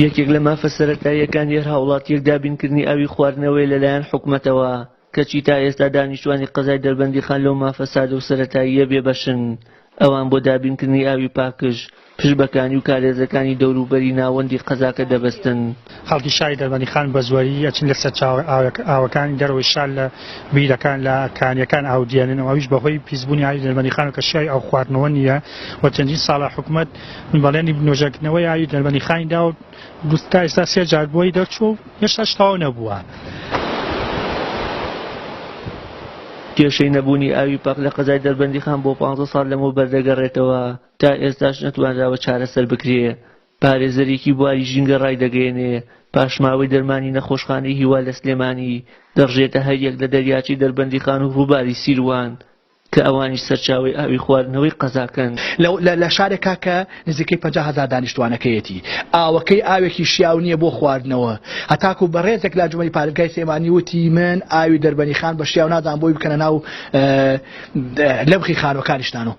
یەکێک لە مافە سەرەتاییەکان یەر هاوڵاتیەک دابینکردنی ئاوی خواردنەوەی لەلایەن حکومەتەوە کەچی تا ئێستا دانیشتوانی قەزای دەربەندی خان لەو مافە سادە و سەرەتاییە بێبەشن ئەوان بۆ دابینکردنی ئاوی پاکژ پشبەکانی و کارێزەکانی دەوروبەری ناوەندی قەزاکە دەبستن خەڵکی شاری دەربەندیخان بە زوەری ئەچن لە سەرچاوە ئاوەکانی دەرەوەی شار لە بیرەکان لە کانیەکان ئاو دیێنن و ئەویش بەهۆی پیسبوونی ئاوی دەربەندیخانەوە کە شای ئاو خواردنەوە نییە و چەندین ساڵە حکومەت بەڵێنی نۆژەنکردنەوەی ئاوی دەربەندیخانی دا و تا ئێستا سێ جار بۆی دەرچوو و هێشتاش تەواو نەبووە. کێشەی نەبوونی ئاوی پاک لە قەزای دەربەندیخان بۆ پانزە ساڵ لەمەوبەر دەگەڕێتەوە، تا ئێستاش نەتوانراوە چارەسەر بکرێ، پارێزەرێکی بواری ژینگە ڕایدەگەیەنێ، پاشماوەی دەرمانی نەخۆشخانەی هیوا لە سلێمانی، دەڕژێتە هەریەک لە دەریاچەی دەربەندیخان و ڕووباری سیروان، کە ئەوانیش سەرچاوەی ئاوی خواردنەوەی قەزاکەن. لە شارێکا کە نزیکەی پەنجا هەزار دانیشتوانەکەیەتی، ئاوەکەی ئاوێکی شیاو نییە بۆ خواردنەوە، هەتاکو بەڕێزێک لە ئەنجومەنی پارێزگای سلێمانی وتی، من ئاوی دەربەنیخان بە شیاو نازانم بۆی بکەنە ناو لەبخی خانووەکانیشتان و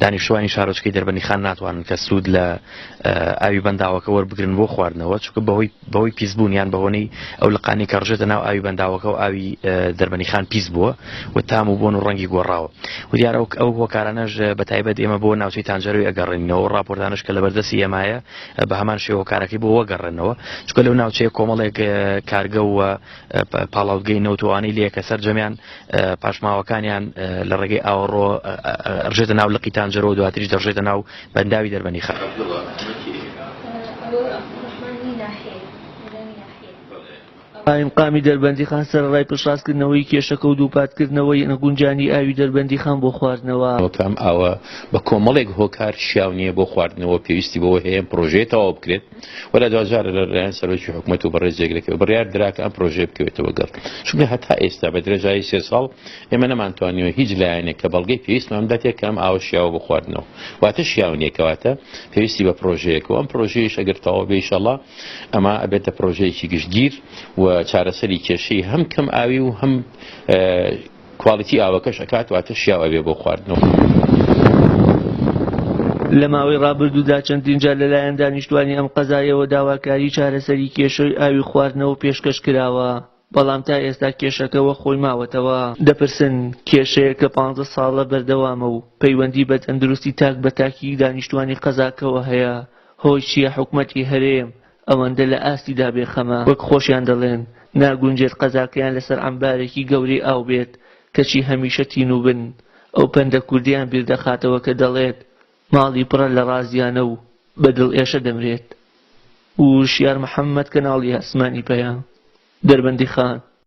دانیشتوانی شارۆچکەی دەربەنیخان ناتوانن کە سوود لە ئاوی بەنداوەکە وەربگرن بۆ خواردنەوە چکە بەهۆی بەهۆی پیسبوون یان بەهۆنەی ئەو لقانی کە ڕژێتە ناو ئاوی بەنداوەکە و ئاوی دەربەنیخان پیس بووە و تام و بۆن و ڕەنگی گۆڕاوە و دیارە ئەو هۆکارانەش بە تایبەت ئێمە بۆ ناوچەی تانجەروی ئەگەڕێنینەوە ڕاپۆرتانش کە لە بەردەسی ئێمایە بە هەمان شێوەکارەکەی بۆ وەگەڕێنەوە چکە لەو ناوچەیە کۆمەڵێک کارگە و پاڵاوتگەی نەوتوانەی لە یەکە سەررجەمیان پاشماوەکانیان لە ڕێگەی ئاوەڕۆ ڕژێتە ناو لە قیتان جەرەوە دواتریش دەڕژێتە ناو بەنداوی دەربەنی خە قایمقامی دەربەندیخان سەرڕای پشتڕاستکردنەوەی کێشەکە و دووپاتکردنەوەی نەگونجانی ئاوی دەربەندیخان بۆ خواردنەوە ئەوکام ئاوە بە کۆمەڵێک هۆکار شیاو نییە بۆ خواردنەوە پێویستی بەوە هەیە پرۆژەیە تەواو بکرێت و لە دواجارە لە لایەن سەرۆکی حکوومەت و بەڕێزێک لەکە بڕیار درا کە ئەم پرۆژێ بکەوێتەوە گەڕ چونکە هەتا ئێستا بە درێژایی سێ ساڵ ئێمە نەمانتوانیوە هیچ لایەنێک کە بەڵگەی پێویستمان بداتێت کە ئەم ئاوە شیاوە بخواردنەوە واتە شیاو نیەکەواتە پێویستی بە پرۆژەیەکەوە ئەم پرۆژەیەش ئەگەر تەواو بێشەڵا ئەما ئەبێتە پرۆژەیەکی گشتگیر و چارەسەری کێشەی هەم کەم ئاوی و هەم کوالیتی ئاوەکەش ئەکات واتە شیاو ئەبێ بۆ خواردنەوە. لە ماوەی ڕابردوودا چەندین جار لەلایەن دانیشتوانی ئەم قەزایەوە داواکاری چارەسەری کێشەی ئاوی خواردنەوە پێشکەش کراوە، بەڵام تا ئێستا کێشەکە وەک خۆی ماوەتەوە. دەپرسن، کێشەیەک کە پانزە ساڵە بەردەوامە و پەیوەندی بە تەندروستی تاک بە تاکی دانیشتوانی قەزاکەوە هەیە، هۆی چییە حکومەتی هەرێم ئەوەندە لە ئاستیدا بێ خەمە وەک خۆشیان دەڵێن ناگونجێت قەزاکەیان لەسەر عەمبارێکی گەورەی ئاو بێت کەچی هەمیشە تینووبن، ئەو پەندە کوردییان بیردەخاتەوە کە دەڵێت، ماڵی پڕە لە ڕازیانە و بە دڵ ئێشە دەمرێت. ووشیار محەمەد کەناڵی ئاسمانی پەیام، دەربەندیخان.